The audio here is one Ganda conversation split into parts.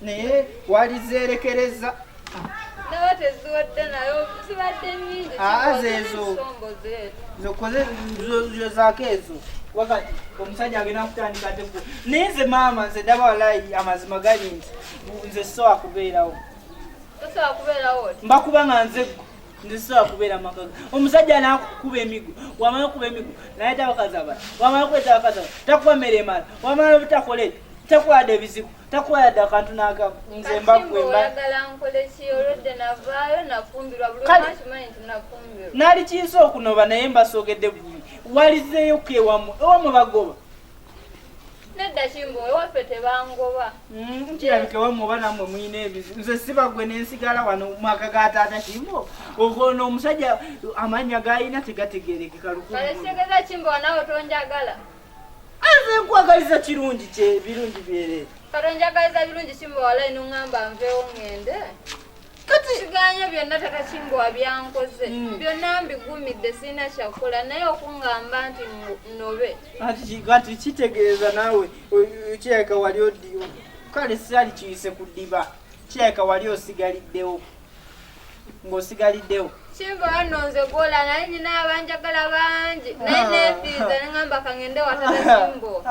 naye walizeerekereza zezo zokoze zako ezo wakati omusajja agenda kutandika teku naye nze maama nze daba walayi amazima gali nti nze sowakubeerawo mbakuba nga nze gwe ndisobola kubeera amaka omusajja nakukuba emigo wamala okukuba emigo naye tabakazi abala wamala okuleeta abakazi abala takuba mmere emala wamala obutakola ekyo takwada ebizibu takwada akantu nakamu nze mbakuembanali kiyinza okunoba naye mbasoogedde bulungi walizeeyo kewamwe ewamwe bagoba nedda kimbo ewaffe tebangoba mm, kirabike wamwe oba namwe mulina ebizi nze siba gwe nensigala wano mumaka ga taata kimbo ogono omusajja amanya galina tegategerekeka lukualesitegeza kimbo wanawe tonjagala aze nkwagaliza kirungi kye birungi byere katonjagaliza birungi kimbo walayi nungamba nvewo ngende byonna takakimbo wabyankoze hmm. byonna mbigumidde sirina kyakukola naye okungamba nti nobe kati kitegeeza naawe kirabika wali odiwo kale sirali kiyise ku ddiba kirabika wali osigaliddewo ng'osigaliddewo kimba wano nze gwola naye nyina abanjagala bangi naye nefiiza nengamba kangende watata kimbo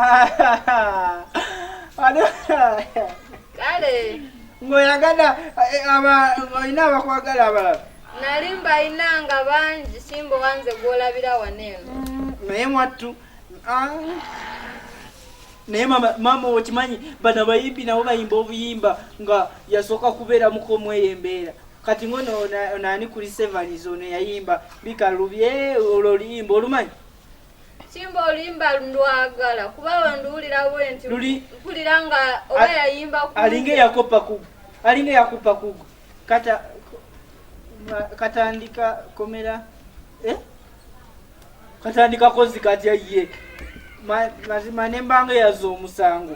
kale ng'oyagala eh, olina abakwagala abalala nali mbalina nga bangi simba owanze gw'olabira wano eno mm, naye mwattu ah. naye maama okimanyi bano abayimbi nabo bayimba obuyimba nga yasooka kubeera mukomweyo embeera kati ngono onaani kuli sevaniz ono yayimba bikalubye olwo oluyimba olumanyi Simba olimba ndwagala kuba wanduwulira bwenti mpulira nga oba yayimba alinga eyakopa kugu alinga eyakupa kugu kata katandika komera eh? katandika kozi katya ye mazima nembanga eyaza omusango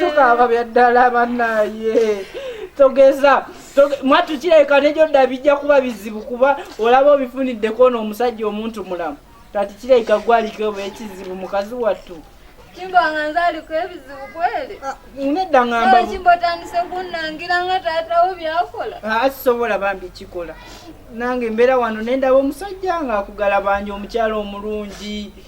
tukaaba bya ddala banaye togeza mwattu kirabika negyo dda bijja kuba bizibu kuba olaba obifuniddeko ono omusajja omuntu mulamu kati kirabika gwaliko oba ekizibu mukazi wattu kimba nga nzaliko ebizibu kweli ah, nedda ngamba kimba otandise kunnangira nga taatawo byakola ah, asisobola bambi kikola nange mbeera wano nendaba omusajja nga akugala banja omukyala omulungi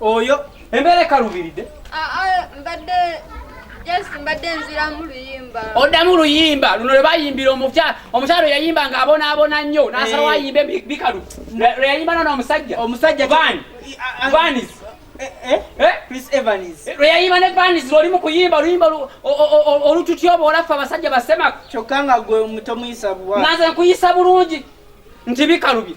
oyo embeera ekalubiridde mbadde oddamu luyimba luno lwe bayimbira omukyala omukyala yayimba nga abonaabona nnyo nasalawo eh. ayimbe bikalu lwe yayimba nona omusajja omusajja vanis lwe yayimba ne vanis lwoli mu kuyimba oluyimba olututya oba olaffe abasajja basemako kyokka nga gwe mutomuyisa buwa nanze nkuyisa bulungi nti bikalubi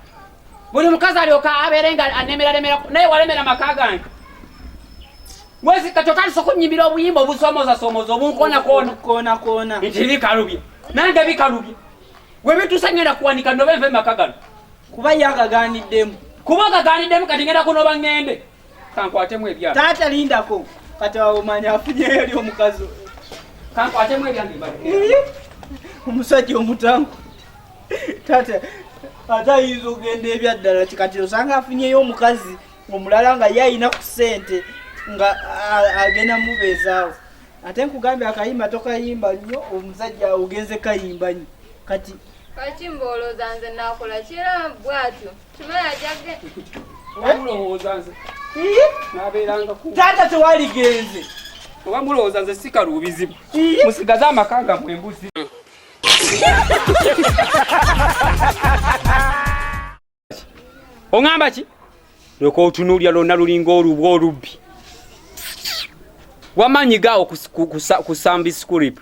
buli mukazi alyoka abeere nga anemeraremera naye walemera maka gange wezikati otandisa okunyimira obuyimba obusomozasoomoza obunkonakoona nti bikalubye nange bikalubye webitusa ngenda kuwanika noba enva emaka gano kuba ye agaganiddemu kuba agaganiddemu kati ngenda kunoba ngende Kankwatemu ebya. Taata lindako. Kati awo manya afunyeyo eri omukazi. Kankwatemu ebya mbibadde. Omusajja omutangu. Taata ate ayinza okugenda ebyaddala kikati osanga afunyeyo omukazi omulala nga ye alina ku ssente nga agenda mubeezaawo ate nkugambye akayimba tokayimba nnyo omusajja ogenze kayimba nnyo kati kaki mboolooza nze naakola kira bwatyo taata tewaligenze oba mulowooza nze sikaluubizibu musigaze amaka nga mwembuzi oŋamba ki lyoka otunuulira lwonna lulinga olubwa olubbi wamanyi gaawo kusamba isikulipu